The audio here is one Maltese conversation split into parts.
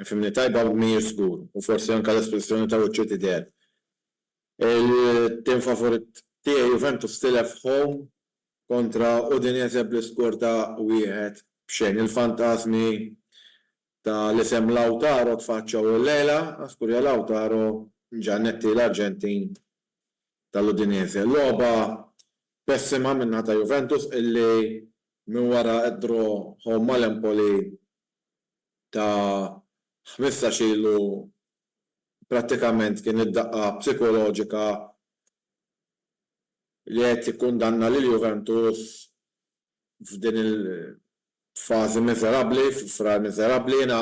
Fhimni tajb hawn mhijiex żgur u forsi anke l-espressjoni ta' wiċċu tidher. Il-tim favorit tiegħi Juventus tilef home kontra Udinese bl-iskor ta' wieħed b'xejn. Il-fantasmi ta' l-isem Lautaro tfaċċaw illejla, żgur ja Lautaro Giannetti l-Arġentin ta' l-Udinese. Logħba pessima min-naħa ta' Juventus illi minn wara d-draw home ma' l-Empoli ta' ħmistax ilu prattikament kien id-daqqa psikoloġika li qed tikkundanna lil Juventus f'din il-fażi miżerabbli, f'Frar miżerabbli. Jiena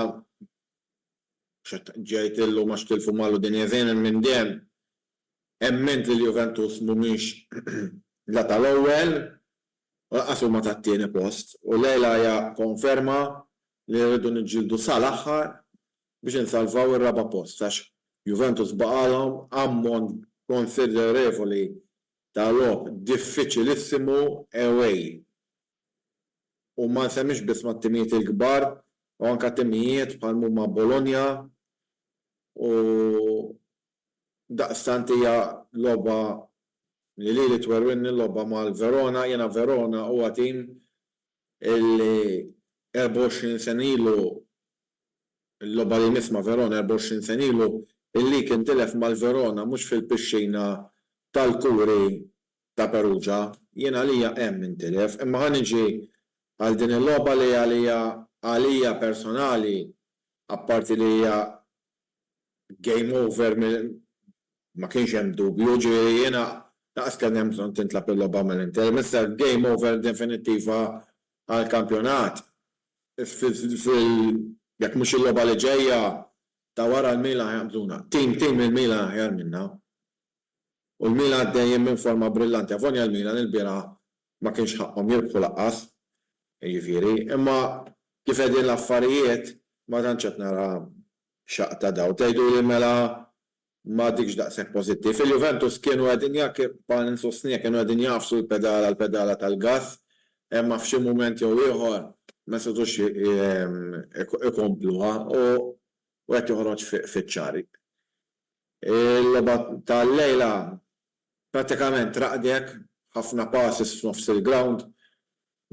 xetġejt illum għax tilfu mal Udinese, jien minn dejjem emmint li l-Juventus mhumiex la tal-ewwel Waqqaf il-Malta għat-tieni post u llejla hija konferma li rridu niġġieldu sal-aħħar biex insalvaw ir-raba' post għax Juventus baqgħalhom ammont konsiderevoli ta' logħob diffiċilissimu away u ma nsemmix biss mat-timijiet il-kbar u anke timijiet bħal mhuma Bologna u Daqstant hija logħba li lili twerwirni l-logħba mal-Verona. Jiena Verona huwa tim illi 24 sena ilu, il-logħba li jmiss ma' Verona 24 sena ilu, il-League intilef mal-Verona mhux fil-pixxina tal-kuri ta' Perugia. Jien għalija hemm intilef. Imma ħa niġi għal din il-logħba li għalija għalija personali, apparti li hija game over ma kienx hemm dubju, jiġifieri jiena lanqas kelli hemm bżonn tintlagħab il-logħba mill-Inter, m'issa game over definittiva għall-kampjonat. Jekk mhux il-logħba li ġejja ta' wara l-Milan ħajaqbżuna. Tim tim il-Milan aħjar minna. U l-Milan dejjem minn forma brillanti. Avolja l-Milan ilbieraħ ma kienx ħaqqhom jirbħu lanqas, jiġifieri, imma kif qegħdin l-affarijiet ma tantx qed nara xaqq ta' dawl. Tgħiduli mela m'għadikx daqshekk pożittiv. Il-Juventus kienu qegħdin bħala ninsostniha kienu qegħdin jagħfsu l-pedala l-pedala tal-gass, imma f'xi mument jew ieħor ma setgħux ikompluha u qed joħroġ fiċ-ċar. Il-logħba tal-lejla prattikament raqdet, ħafna passes f'nofs il-grawnd,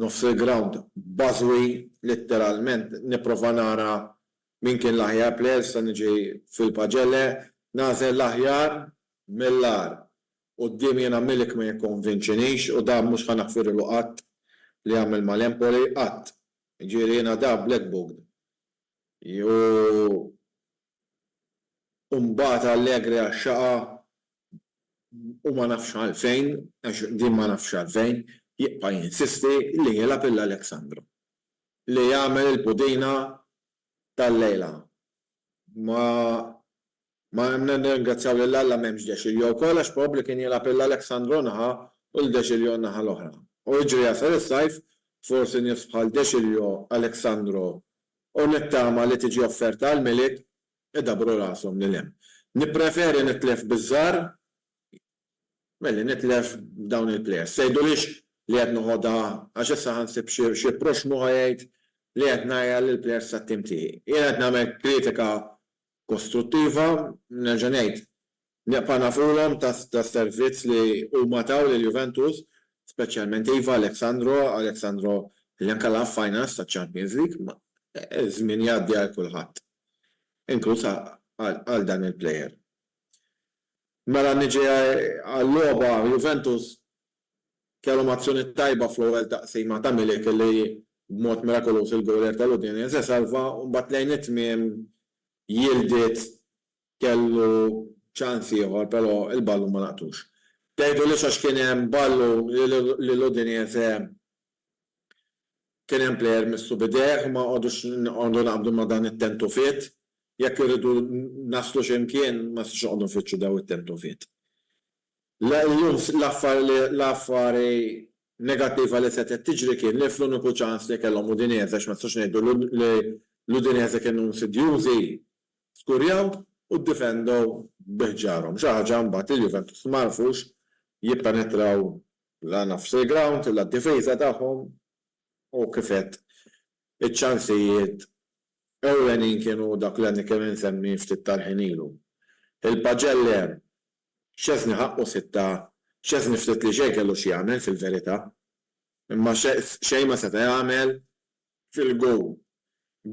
nofs il-grawnd bażwi, litteralment nipprova nara min kien l-aħjar plejer, issa niġi fil-pagelle, nagħżel l-aħjar mill-agħar. Quddiemi jiena Milik ma jikkonvinċinix u dan mhux ħa naħfirlu qatt li għamel mal-Empoli, qatt. Jiġifieri jiena da black booked u u mbagħad allegri għax-xaqa u ma nafx għalfejn, għax din ma nafx għalfejn, jibqa' jinsisti li jilgħab il-Alexandro. Li jagħmel il-pudina tal-lejla. Ma ma nirringrazzjaw lil Alla m'hemmx De Sciglio wkoll għax probabbli kien jilgħab il-Alexandro naħa u lil De Sciglio n-naħa l-oħra. U jiġri jasal is-sajf, forsi nifs bħal De Sciglio, Alexandro u nittama li tiġi offerta għall-Milied, idabbru rashom lil hemm. Nippreferi nitlef biż-żgħar milli nitlef b'dawn il-plejers. Tgħidulix li qed noħodha għax issa ħa nsib xi proxxmu ħa jgħid li qed ngħajjar lill-plejers tat-tim tiegħi. Jiena qed nagħmel kritika kostruttiva, nerġa' ngħid, Nibqa' nagħfulhom tas-servizz li huma taw lil Juventus, speċjalment iva Alex Sandro, Alex Sandro li anke lagħab finals taċ-Champions League, imma ż-żmien jgħaddi għal kulħadd, inkluż għal dan il-plejer. Mela niġi għal-logħba, Juventus kellhom azzjoni tajba fl-ewwel taqsima ta' Milik li b'mod mirakoluż il-gowlier tal-Udinese salva u mbagħad lejn it-tmiem jildiet Kellu ċans ieħor però l-ballun ma laqtux. Tgħidulix għax kien hemm ballun li l-Udinese kien hemm plejer missu b'idejh, ma nqogħdux noqogħdu naqbdu ma' dan it-tentufiet. Jekk irridu naslu xi mkien ma nistgħux noqogħdu nfittxu dawn it-tentufiet. Illum l-affari negattiva li setgħet tiġri kien li fl-uniku ċans li kellhom Udinese, għax ma nistgħux ngħidu li l-Udinese kienu insidjużi, skurjaw u ddifendew bi ħġarhom, xi ħaġa mbagħad li l-Juventus ma għarfux jippenetraw la nofs il-grawnd la d-difiża tagħhom u kif għedt iċ-ċansijiet ewlenin kienu dak li għadni kemm insemmi ftit tal-ħin ilu. Il-Pagelli hemm. Szczesny ħaqqu sitta, Szczesny ftit li xejn kellu x'jagħmel fil-verità. Imma xejn ma seta' jagħmel fil-gowl.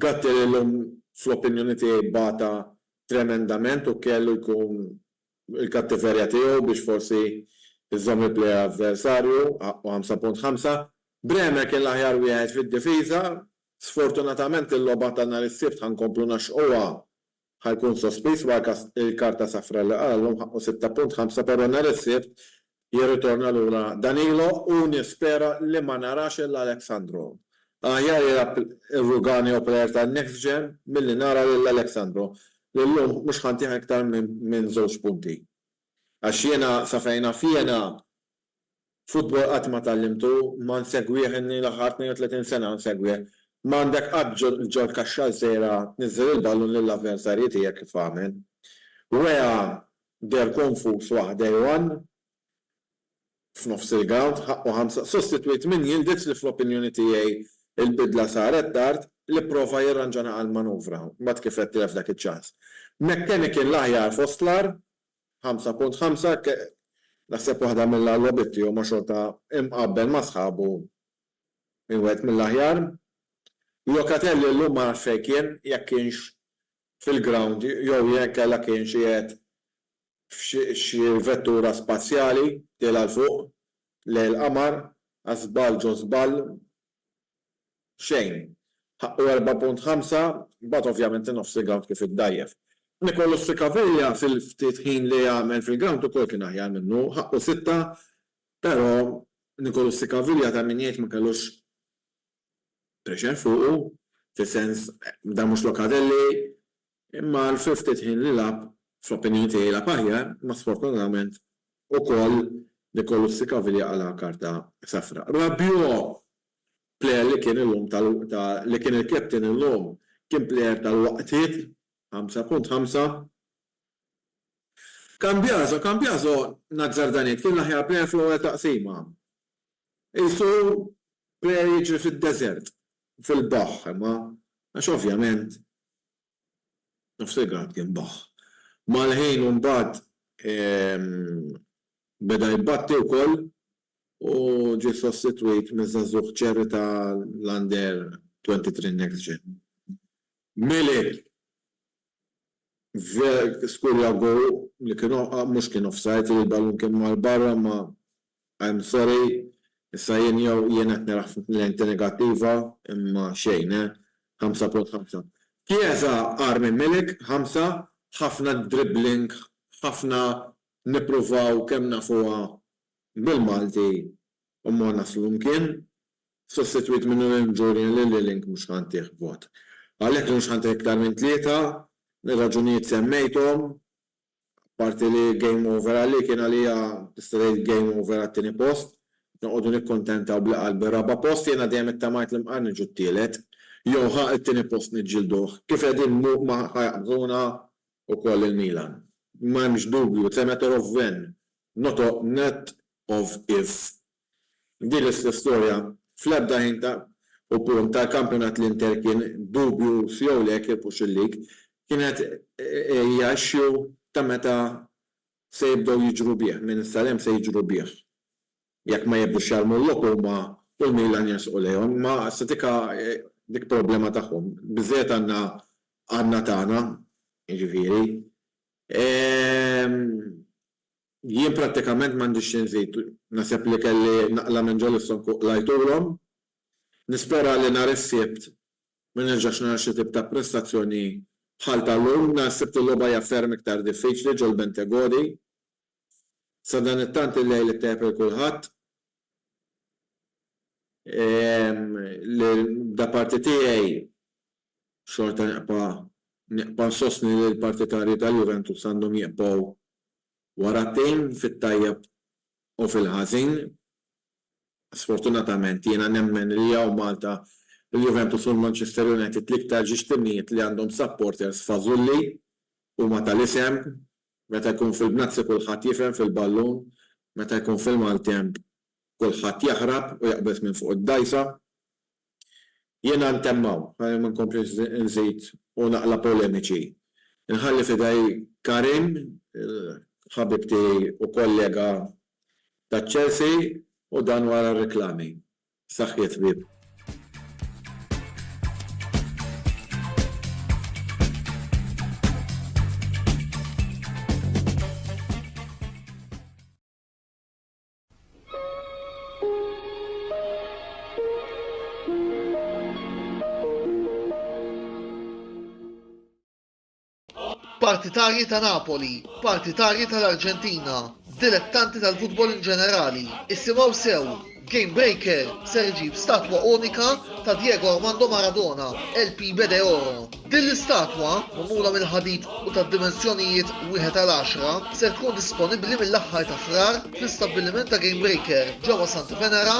Gattier illum fl-opinjoni tiegħi bata tremendament u kellu jkun il-kattiverja tiegħu biex forsi jżomm il-plejer avversarju, ħaqqu ħamsa punt ħamsa. Bremer kien l-aħjar wieħed fid-difiża. Sfortunatament il-logħba ta' nhar is-Sibt ħa nkomplu ngħaxxquha Ħa jkun sospiż wara l-karta safra li qallu mħaqqu 6.5 però nhar is-Sibt jirritorna lura Danilo u nispera li ma narax lil Alex Sandro. Aħjar jilgħab ir-Rugani u plejer tan-next gen milli nara lil Alex Sandro li llum mhux ħa ntih iktar minn żewġ punti. Għax jiena sa fejn naf jiena Futbol qatt ma tgħallimtu, ma nsegwih inni l-aħħar 32 sena nsegwih. M'għandek qatt ġol kaxxa ż-żgħira tniżżel il-ballun lill-avversarji tiegħek kif għamel. Weah deher konfuż waqt day one f'nofs il-grawnd, ħaqqu ħamsa sostitwit minn Yildiz li fl-opinjoni tiegħi l-bidla saret tard, li pprova jirranġa naqal manuvra, mbagħad kif qed tilef dak iċ-ċans. McKennie kien l-aħjar fost l-agħar, 5.5 Hekk naħseb waħda mill-għarwebit tiegħu ma' xorta imqabbel ma' sħabu minn wieħed mill-aħjar. Locatelli llum ma nafx fejn kien, jekk kienx fil-grawnd jew inkella kienx qiegħed f'xi vettura spazjali tiela' 'l fuq lejn il-qamar għax żball ġo żball xejn. Ħaqqu erba' punt ħamsa, imbagħad ovvjament in-nofs il-grawnd kif iddgħajjef. Nicolus Cicaviglia fil-ftit ħin li għamel fil-grawnd ukoll kien aħjar minnu, ħaqqu sitta, però Nicolus Cicaviglia ta' min jgħid ma kellux pressure fuqu, fis-sens dan mhux Locatelli, Imma għal fil-ftit ħin li lagħab, fl-opinjoni tiegħi lagħab aħjar, imma sfortunatament ukoll Nicolussi Caviglia qalagħha karta safra. Rabiot, plejer li kien illum ta' ta' li kien il-captain illum, kien plejer tal-waqtiet, ħamsa punt ħamsa. Cambiaso, Cambiaso, nazzarda ngħid, kien l-aħjar plejer fl-ewwel taqsima. Qisu plejer jiġri fid-deżert. fil-baħħ imma għax ovvjament nofs il-grad kien baħħ. Mal-ħin imbagħad beda jbatti wkoll u ġie sostitwit miż-żagħżugħ ċerri ta' l-Under 23 Next Gen. Milik Ver skurja goal li kien mhux kien offside li l-ballun kien mar barra imma I'm sorry issa jien jew jien qed naraħ f'lenti negattiva imma xejn eh 5.5. Chiesa agħar minn Milik 5 ħafna dribbling ħafna nippruvaw kemm nafuha bil-Malti u ma naslu mkien sostitwit minn Noel Julian li l-Link mhux ħa ntih vot. Għalhekk li mhux ħa ntih iktar minn tlieta, mir-raġunijiet semmejthom, apparti li game over għali kien għalija tista' tgħid game over għat-tieni post, noqogħdu nikkuntentaw b'li qalb ir-raba' post, jiena dejjem ittamajt li mqar niġu t-tielet, jew ħa t-tieni post niġġielduh, kif qegħdin mhu ma ħa jaqbżuna wkoll il-Milan. M'hemmx dubju, it's a matter of when, not of, not of if, F'din l-istess storja, fl-ebda ħin ta' u punt tal-kampjonat l-Inter kien dubju f'jew le kirbux il-league, kienet hija issue ta' meta se jibdew jiġru bih, minn issa 'l hemm se jiġru bih. Jekk ma jibdux jarmu l-logħob huma u l-Milan jersqu lejhom, imma issa dika dik problema tagħhom. Biżżejjed għandna għandna tagħna, jiġifieri. Jien prattikament m'għandix xi nżid. Naħseb li kelli naqla' minn ġol is-song u qlajtulhom. Nispera li nhar is-Sibt ma nerġax nara xi tip ta' prestazzjoni bħal ta' llum. Nhar is-Sibt il-logħba hija ferm iktar diffiċli ġol-Bentegodi. Sadanittant il-lejl ittejjeb lil kulħadd. L-daparti tiegħi xorta neqpa' neqpa' nsostni li l-partitarji tal-Juventus għandhom jiqbgħu wara t-tim fit-tajjeb u fil-ħażin. Sfortunatament jiena nemmen li hawn Malta l-Juventus u l-Manchester United l-iktar ġiex timijiet li għandhom supporters fażulli, huma tal-isem, meta jkun fil-bnazzi kulħadd jifhem fil-ballun, meta jkun fil-maltemp kulħadd jaħrab u jaqbeż minn fuq id-dgħajsa. Jiena ntemm hawn, ħalli ma nkomplix inżid u naqla' polemiċi. Inħalli f'idej Karim, il-ħabib tiegħi u kollega taċ-Chelsea, u dan wara r-riklami. B'saħħiet ħbieb. partitarji ta' Napoli, partitarji tal-Arġentina, dilettanti tal-futbol in ġenerali, isimgħu sew Game Breaker ser iġib statwa unika ta' Diego Armando Maradona, LP Bede Oro. Din l-istatwa, magħmula mill-ħadid u ta' dimensjonijiet wieħed għal għaxra, ser tkun disponibbli mill-aħħar ta' Frar fl-istabbiliment ta' Gamebreaker ġewwa Santa Venera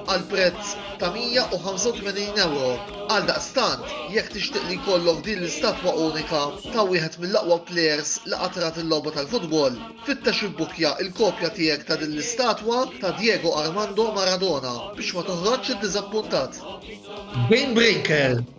għal prezz ta' 185 ewro. Għaldaqstant, jekk tixtieq li jkollok din l-istatwa unika ta' wieħed mill-aqwa plejers li qatt rat il-logħba tal-futbol, fittex ibbukkja l-kopja tiegħek ta' din l-istatwa ta' Diego Armando Maradona biex ma toħroġx iddiżappuntat. Gamebreaker,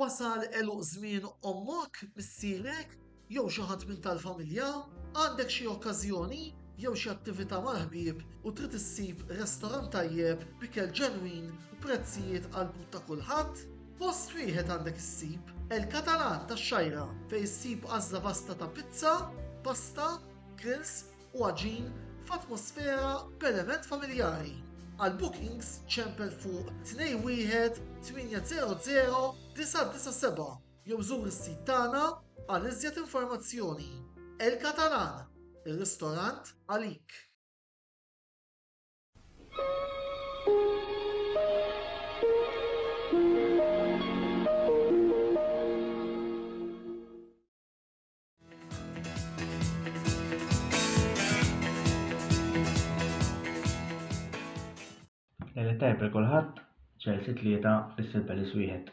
Wasal għeluq żmien ommok, missierek, jew xi ħadd minn tal-familja? Għandek xi okkażjoni jew xi attività mal-ħbieb u trid issib restorant tajjeb b'ikel ġenwin u prezzijiet għall-but ta' kulħadd? Post wieħed għandek issib, El Catalan tax-Xgħajra, fejn issib għażla vasta ta' pizza, pasta, grills u għaġin f'atmosfera b'element familjari. Għal bookings ċempel fuq 21 800 997 jew żur is-sit tagħna għal iżjed informazzjoni. El Catalan, ir-ristorant għalik. Lejla tajba li kulħadd ċerti tlieta fissir belis wieħed.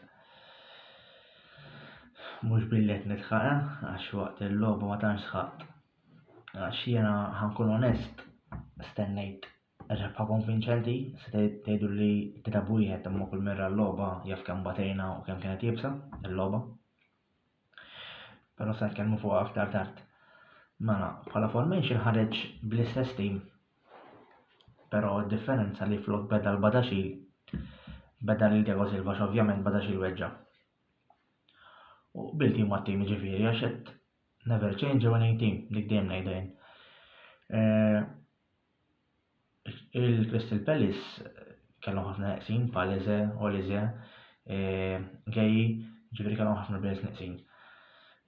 Mhux billet nitħaqa eh, għax waqt il-logħba ma tantx sħaqt. Għax jiena ħankun onest, stennejt rebħa konvinċenti, se tgħidu li kitab wieħed imma kull merra l-logħba jaf kemm batejna u kemm kienet jibsa il-logħba. Però se nitkellmu fuq aktar tard. Mela, bħala formation ħareġ bl-istess tim. Però d-differenza li flok beda l-Badaxil beda lil Diego Silva x'ovvjament Badaxil weġġa'. U bil tim ma' tim ġifieri għax qed never change a winning team, dik dejjem ngħidha jien. Eh, Il-Crystal Palace kellhom ħafna neqsin bħal Eze, Olize, Geji, ġifieri kellhom ħafna players neqsin.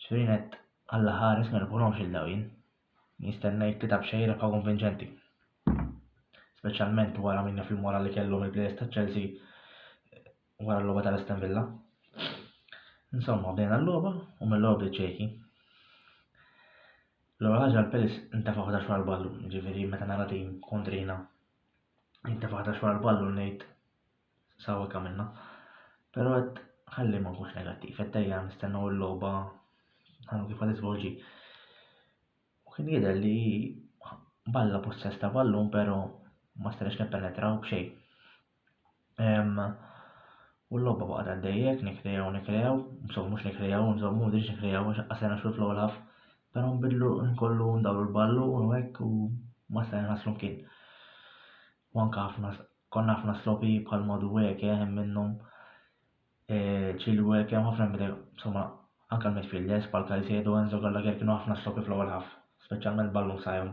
Ġifieri net għalla ħares ma nifhomx il dawin. Nistennejt tlieta b'xejn rebħa konvinċenti. Speċjalment wara minna fil-mora li kellhom il-players ta' Chelsea wara l-logħba tal-Aston Villa. Insomma, bdejna l-logħba u mill-ewwel bdiet ċejki. L-ewwel ħaġa l-Pelis intefa' ħdax wara l-ballu, ġifieri meta nara tim kontrina intefa' ħdax wara l-ballu ngħid sawek għamilna. Però qed ħalli ma nkunx negattiv, qed dejja nistennew il-logħba għandu kif għad isvolġi. U kien jidher li balla possess ta' ballun, però ma stajniex nippenetraw b'xejn. U l-lobba baqa' għaddejjek, nikrejaw, nikrejaw, insomma mhux nikrejaw, insomma mhux dirix nikrejaw, għax qasajna xogħol fl-olaf, però nbidlu nkollu ndawru l-ballun u hekk u ma stajna naslu mkien. U anke ħafna konna ħafna slopi bħal Maduweke hemm minnhom Chilwell kemm ħafna minn insomma anke l-midfielders bħal Caicedo, Enzo Gallagher kienu ħafna slopi fl-ewwel ħaf, speċjalment ballun sajhom.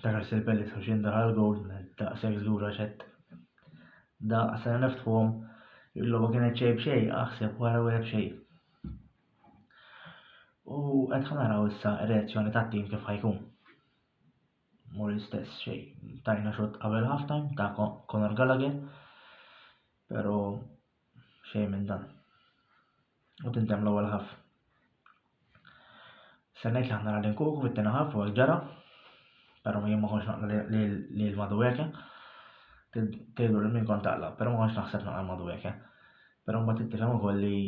L-aħħar sirpelli sħuxin daħal gold net daqshekk żlura xett. Daqq sena neftħuhom il-logħba kienet xejn b'xejn aħseb wara wieħed b'xejn. U qed ħanaraw issa r-reazzjoni tat-tim kif ħajkun. Mur l-istess xejn. Tajna xott qabel half time ta' Conor Gallagher. Pero Xejn minn dan. U tintemm l-ewwel ħaf. Se ngħid li aħna qegħdin kuku fit-tieni ħaf u ġara, però jien ma kontx naqla li l-Madueke. Tgħidu li min kont taqla, però ma kontx naħseb naqla l-Madueke. Però mbagħad tittifhem ukoll li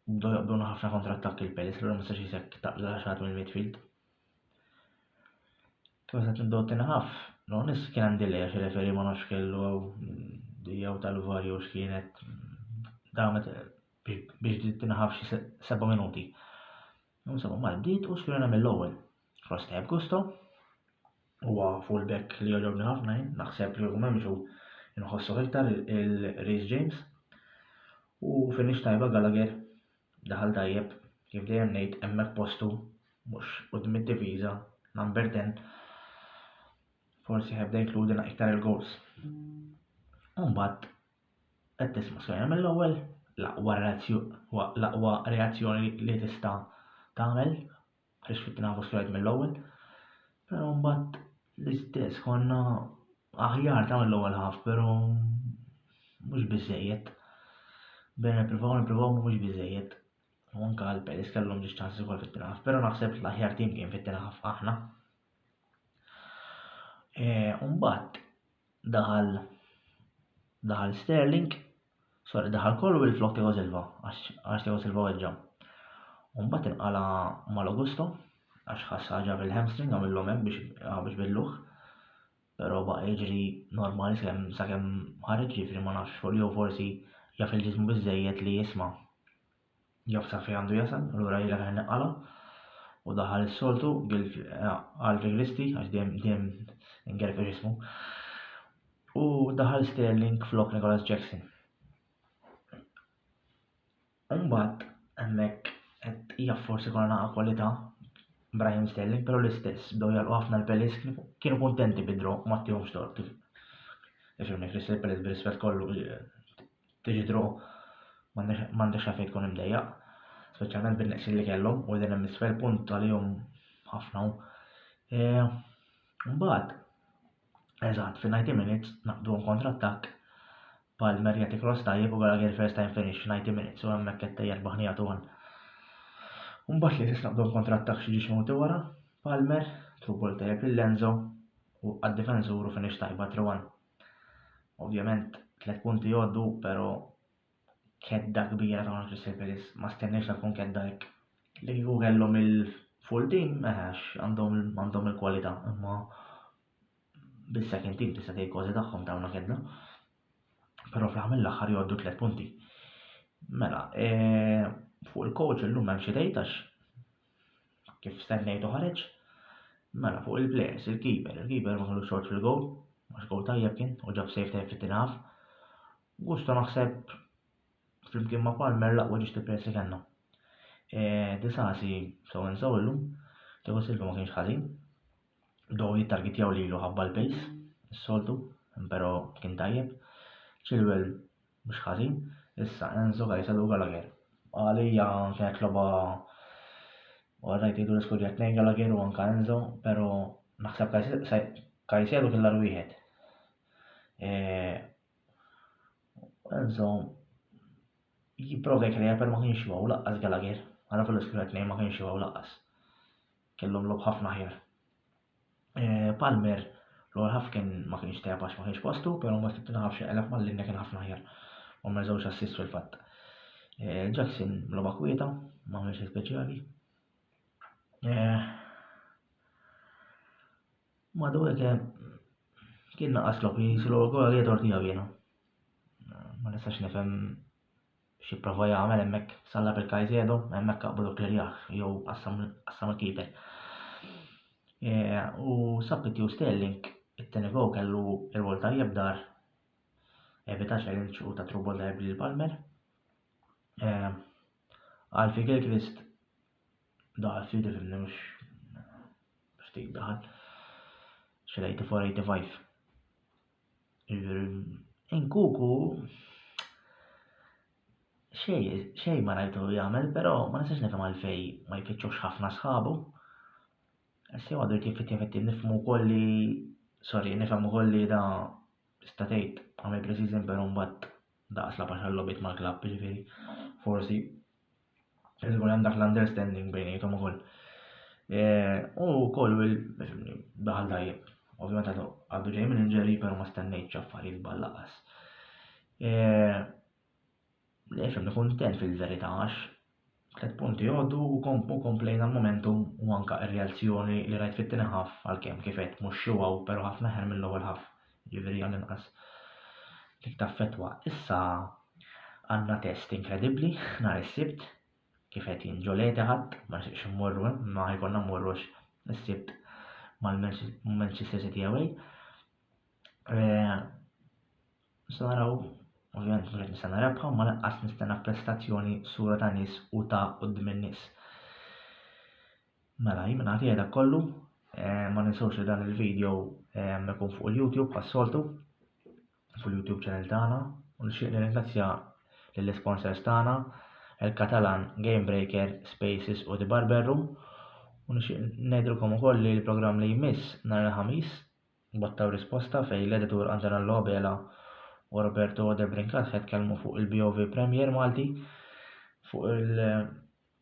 Bdew jaqbduna ħafna kontrattakki l-Palace, l ma setax jisek taqla xaħat mill-midfield. Kif għasat nibdew tinħaf, no nis kien għandi delay għax referi ma nafx kellu għaw dijaw tal-var jew x'kienet damet biex tinħaf xi seba' minuti. Insomma, mal-bdiet u xkien għamil l-ewwel. Fost tajb gusto, huwa fullback li jogħġobni ħafna jien, naħseb li hu memxu nħossu iktar il-Reece James. U finix tajba Gallagher daħal tajjeb kif dejjem ngħid hemmhekk postu mhux qudiem id-diviża number 10 forsi ħebda jinkludina iktar il-goals. Umbat, qed tisma' skajja mill-ewwel, l-aqwa reazzjoni li tista' tagħmel għaliex kif nafu x'jgħid mill-ewwel. Però mbagħad l-istess konna aħjar ta' mill-ewwel ħaf, però mhux biżejjed. Bejna nippruvaw nippruvaw mhux biżejjed. U anke għal Peris kellhom biex ċans ukoll fit tinaf però naħseb l-aħjar tim kien fit tinaf aħna. E, mbagħad daħal daħal Sterling Sar idaħħal kollu minflok Tiago Silva għax Tiago Silva weġġa'. U mbagħad inqala' mal-Augusto għax ħass ħaġa fil-hamstring għamillhom hekk biex ah, biex billuh. Però baqa' jiġri normali sakemm sakemm ħareġ ġifri ma nafx jew forsi jaf il-ġismu biżejjed li jisma' Jaf sa fejn għandu jasal, allura ilek aħjar neqqalha. U daħal is-soltu għal Vigristi, għax dejjem ingerfex ismu. U daħal Sterling flok Nicholas Jackson. Umbat, hemmhekk qed hija forsi konna naqa' kwalità Brian Sterling, però l-istess bdew jalqu ħafna l-Pelis kienu kuntenti bidro ma ttihomx tort. Ifhimni Chris il-Pelis b'rispett kollu Tiġidru m'għandekx għalfejn tkun imdejjaq, speċjalment bin-neqsin li kellhom u qegħdin hemm isfel punt għalihom ħafna hu. E, mbagħad, eżatt, fi 90 minutes naqduhom kontrattakk bħal Merjati Cross tajjeb u Gallagher first time finish 90 minutes u hemmhekk qed tejjer baħnija tu għan. Mbagħad li tisnaqdu l-kontrattak xi ġiex moti wara, Palmer, trubol tajjeb lil Lenzo u għad-difensuru finish tajba 3 Ovvjament tliet punti jgħoddu, però kedda kbira ta' Crystal Palace ma stenniex ta' tkun kedda hekk. Li kieku kellhom il-full team, meħax eh, għandhom il-kwalità, imma bis-second team tista' tgħid kważi tagħhom tawna kedda. Però fl-aħħar mill-aħħar jgħoddu tliet punti. Mela, eh, fuq il-coach illum hemm xi tgħid għax Kif stennejtu ħareġ? Mela fuq il-plejers, il-keeper, il-keeper ma kellux xorġ fil-gowl, għax gowl tajjeb kien u ġab save tajjeb fit-tieni half. Gusto naħseb flimkien ma' Palmer laqwa ġiex il-plejers li kellna. E, Disasi sew insew illum, Tiago Silva ma kienx ħażin. Bdew jittargitjaw lilu ħabba l-pace, s-soltu, pero kien tajjeb. Chilwell mhux ħażin, issa Enzo Caicedo Gallagher. Għalija kienet loba Għarrajt jgħidu l-iskodja t-nejn Gallagher u anka Enzo, pero naħseb Caicedo kien l wieħed. E, Enzo jipprova jkreja per ma kienx jgħu laqqas Gallagher. Għana fil-iskodja t-nejn ma kienx jgħu laqqas. Kellhom logħob ħafna aħjar. Eh, Palmer l-ewwel ħaf kien ma kienx tajjeb għax ma kienx postu, però ma tibtina ħafx qeleb mal-linja kien ħafna aħjar. U ma żewġ assist fil-fatt. Eh, Jackson logħba kwieta, ma għamilx speċjali. Eh, Madu hekk kien naqas logħob jisilgħu gol għal Edward Diavina. Ma nistax nifhem X'ipprova jagħmel hemmhekk Salah bil-Caicedo, hemmhekk aqblu Clerjah jew qassam il-keeper. U sab it-tiju Sterling, it-tieni gow kellu rwol tajjeb dar evita challenge u ta' trubol tajjeb lil Palmer. Alfie Gilchrist daħal ftit ifimni mhux ftit daħal. Xi 84-85. Inkuku xejn ma rajtu jagħmel, però ma nistax nifhem għalfejn ma jfittxux ħafna sħabu. Issa għadu jkun fitti fitti nifhmu wkoll li sorry nifhem ukoll li da tista' tgħid għamel pre-season però mbagħad daqas labax għal-logħbiet mal-klabb, jiġifieri forsi. Irid ikun hemm dak l-understanding bejniethom ukoll. Eh, u wkoll daħal tajjeb. Ovvjament għadu għadu ġej minn ġeri, però ma stennejtx affarijiet ballaqas. Eh, Lex għamni kontent fil-verità għax tlet punti għoddu u komplejna l-momentum u anka r-reazzjoni li rajt fit-tini ħaf għal-kem kifet mux xiwaw, pero ħafna ħer mill-ewwel ħaf. jiġifieri għall-inqas dik taffettwa. Issa għandna test inkredibbli nhar is-Sibt kif qed jinġoleti ħadd ma nixtieqx immorru hemm ma jkollna mmorrux is-Sibt mal-Manchester City away. Eh, nista' naraw ovvjament mhux qed nistenna rebħa ma lanqas nistenna prestazzjoni sura ta' nies u ta' quddiem in-nies. Mela jien mingħajr jgħidha kollu, ma ninsewx li dan il-video ikun fuq il-YouTube bħas-soltu, fuq il-YouTube channel tagħna, u nixtieq nirringrazzja lill-isponsors tagħna, il-Catalan Game Breaker, Spaces u The Barber Room, u nixtieq ngħidilkom ukoll li l-programm li jmiss nhar il-Ħamis, Botta u Risposta fejn l-editur Antonello Abela u Roberto De Brincat ħetkellmu fuq il-BOV Premier Malti fuq il-